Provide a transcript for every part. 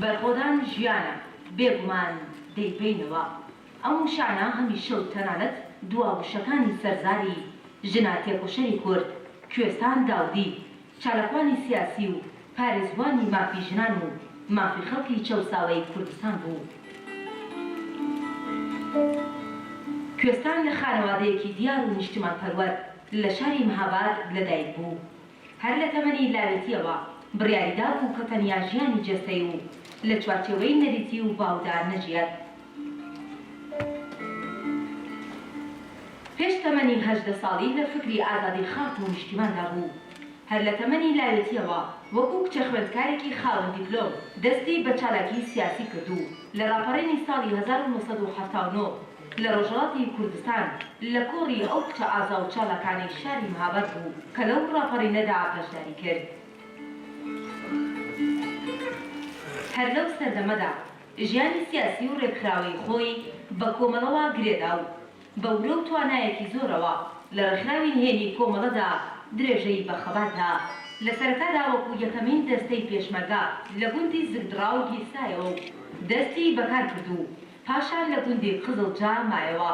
بەرخۆدان ژیانە، بێگومان دەیبەینەوە. ئەم وشانە هەمیشە و تەنانەت دوا وشەکانی سەرزاری ژنە تێکۆشەری کورد، کوێستان داودی، چالاکوانی سیاسی و پارێزوانی مافی ژنان و مافی خەڵکی چەوساوەی کوردستان بوو. کوێستان لە خانەوادەیەکی دیار و نیشتیمانپەروەر لە شاری مهاباد لەدایک بوو. هەر لە تەمەنی لاوێتییەوە بڕیاریدابوو کە تەنیا ژیانی جەستەی و لە چوارچێوەی نەریتی و باودا نەژیێت. پێش تەمەنی هەژدە ساڵی لە فکری ئازادی خاک و نیشتیماندا بوو. هەر لە تەمەنی لاوێتییەوە وەکوو کچە خوێندکارێکی خاوەن دیپلۆم دەستی بە چالاکیی سیاسی کرد و لە ڕاپەڕینی ساڵی هەزار و نۆ سەد و حەفتا و نۆ لە ڕۆژهەڵاتی کوردستان لە کۆڕی ئەو کچە ئازا و چالاکانەی شاری مهاباد بوو کە لەو ڕاپەڕینەدا بەشداری کرد. هەر لەو سەردەمەدا ژیانی سیاسی و رێکخراوەیی خۆی بە کۆمەڵەوە گرێدا و بە ورە و توانایەکی زۆرەوە لە رێکخراوی نهێنی کۆمەڵەدا درێژەی بە خەبات دا. لە سەرەتادا وەکو یەکەمین دەستەی پێشمەرگە لە گوندی زگدڕاو گیرسایەوە و دەستی بەکار کرد و پاشان لە گوندی قزڵجە مایەوە.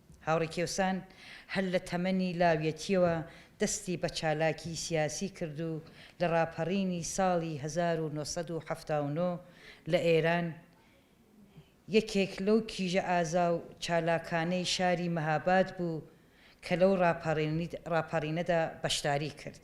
هاوڕێ کێوسان هەر لە تەمەنی لاویەتییەوە دەستی بە چالاکیی سیاسی کرد و لە ڕاپەڕینی ساڵی هەزار و نۆ سەد و حەفتا و نۆ لە ئێران، یەکێک لەو کیژە ئازا و چالاکانەی شاری مەهاباد بوو کە لەو ڕاپەڕینەدا بەشداریی کرد.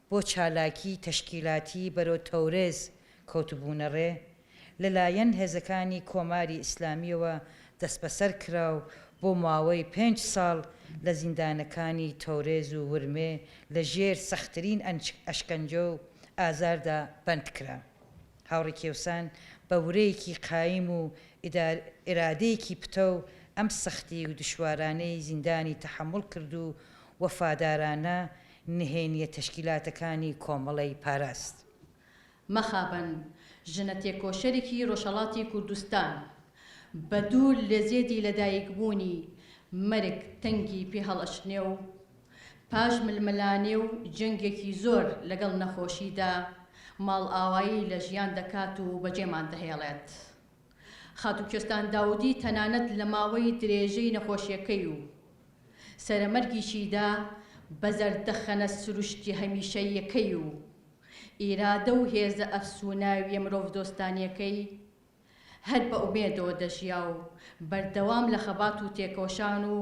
بۆ چالاکی تەشکیلاتی بەرەو تەورێز کەوتبوونە ڕێ، لەلایەن هێزەکانی کۆماری ئیسلامییەوە دەستبەسەر کرا و بۆ ماوەی پێنج ساڵ لە زیندانەکانی تەورێز و ورمێ لە ژێر سەختترین ئەشکەنجە و ئازاردا بەند کرا. هاوڕێ کێوسان بە ورەیەکی قایم و ئیرادەیەکی پتەو ئەم سەختی و دشوارانەی زیندانی تەحەموڵ کرد و وەفادارانە نهێنیە تەشکیلاتەکانی کۆمەڵەی پاراست. مەخابن ژنە تێکۆشەرێکی ڕۆژهەڵاتی کوردستان بە دوور لە زێدی لەدایک بوونی مەرگ تەنگی پێ هەڵئەچنێ و پاش ململانێ و جەنگێکی زۆر لەگەڵ نەخۆشیدا ماڵئاوایی لە ژیان دەکات و بەجێمان دەهێڵێت. خاتوو کوێستان داودی تەنانەت لە ماوەی درێژەی نەخۆشیەکەی و سەرەمەرگیشیدا بە زەردەخەنە سروشتی هەمیشەییەکەی و ئیرادە و هێزە ئەفسووناویە مرۆڤدۆستانیەکەی هەر بە ئومێدەوە دەژیا و بەردەوام لە خەبات و تێکۆشان و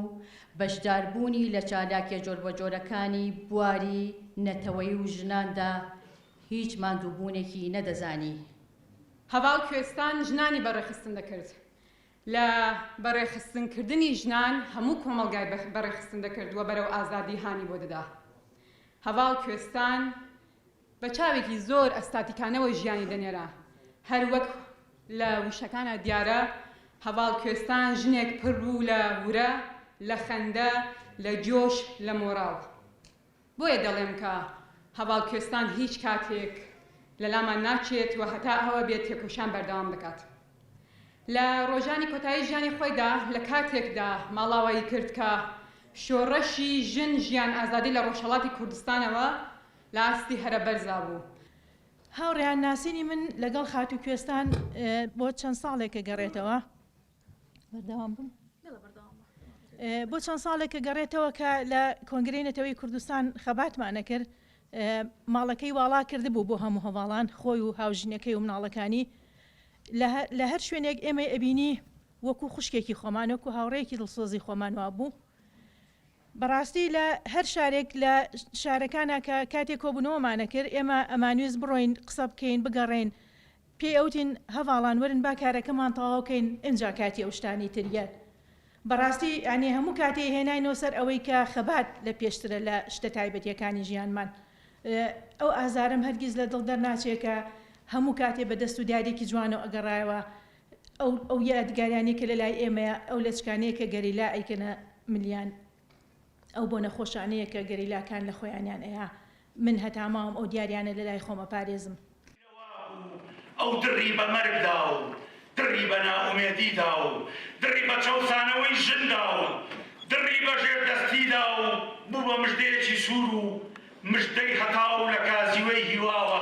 بەشداربوونی لە چالاکیە جۆربەجۆرەکانی بواری نەتەوەیی و ژناندا هیچ ماندووبوونێکی نەدەزانی. هەڤاڵ کوێستان ژنانی بە ڕێخستن دەکرد. لە بە ڕێخستن کردنی ژنان هەموو کۆمەڵگای بە ڕێخستن دەکرد و بەرەو ئازادی هانی بۆ دەدا. هەڤاڵ کوێستان بە چاوێکی زۆر ئەستاتیکانەوە ژیانی دەنێرا. هەر وەک لە وشەکانا دیارە هەڤاڵ کوێستان ژنێک پڕ بوو لە ورە، لە خەندە، لە جۆش، لە مۆڕاڵ. بۆیە دەڵێم کە هەڤاڵ کوێستان هیچ کاتێک لە لامان ناچێت و هەتا ئەوە بێت تێکۆشان بەردەوام دەکات. لە ڕۆژانی کۆتایی ژیانی خۆیدا لە کاتێکدا ماڵاوایی کرد کە شۆڕشی ژن، ژیان، ئازادی لە ڕۆژهەڵاتی کوردستانەوە لە ئاستی هەرە بەرزا بوو. هاوڕێیان ناسینی من لەگەڵ خاتوو کوێستان بۆ چەند ساڵێک گەڕێتەوە. بۆ چەند ساڵێکە گەڕێتەوە کە لە کۆنگرەی نەتەوەی کوردستان خەباتمانە کرد ماڵەکەی واڵا کردبوو بۆ هەموو هەواڵان خۆی و هاوژینەکەی و مناڵەکانی لە هەر شوێنێک ئێمەی ئەبینی وەکو خوشکێکی خۆمانۆک و هاوڕێکی دڵسۆزی خۆمان وابوو بەڕاستی لە هەر شارێک لە شارەکانە کە کاتێک کۆبوونەوەمانە کرد ئێمە ئەمانوێز بڕۆین قسە بکەین بگەڕێین پێی ئەوتین هەڤاڵان وەرن با کارەکەمان تەواو کەین ئنجا کاتی ئەو شتانەی تر یەت بەڕاستی یانی هەموو کاتێ هێناینەوە سەر ئەوەی کە خەبات لە پێشترە لە شتە تایبەتیەکانی ژیانمان ئەو ئازارەم هەرگیز لە دڵ دەرناچێ کە هەموو کاتێ بە دەست و دیاریەکی جوانەوە ئەگەڕایەوە ئەو ئەو یادگاریانەی کە لە لای ئێمەیە ئەو لەچکانەیە کە گەریلا ئەیکەنە ملیان ئەو بۆ نەخۆشانەیە کە گەریلاکان لە خۆیانیان ئەیا من هەتا ماوم ئەو دیاریانە لە لای خۆم ئەپارێزم. نەوابوو ئەو دڕی بە مەرگدا و دڕی بە نائومێدیدا و دڕی بە چەوسانەوەی ژندا و دڕی بە ژێردەستیدا و بوو بە مژدەیەکی سوور و مژدەی هەتاو لە کازیوەی هیواوە.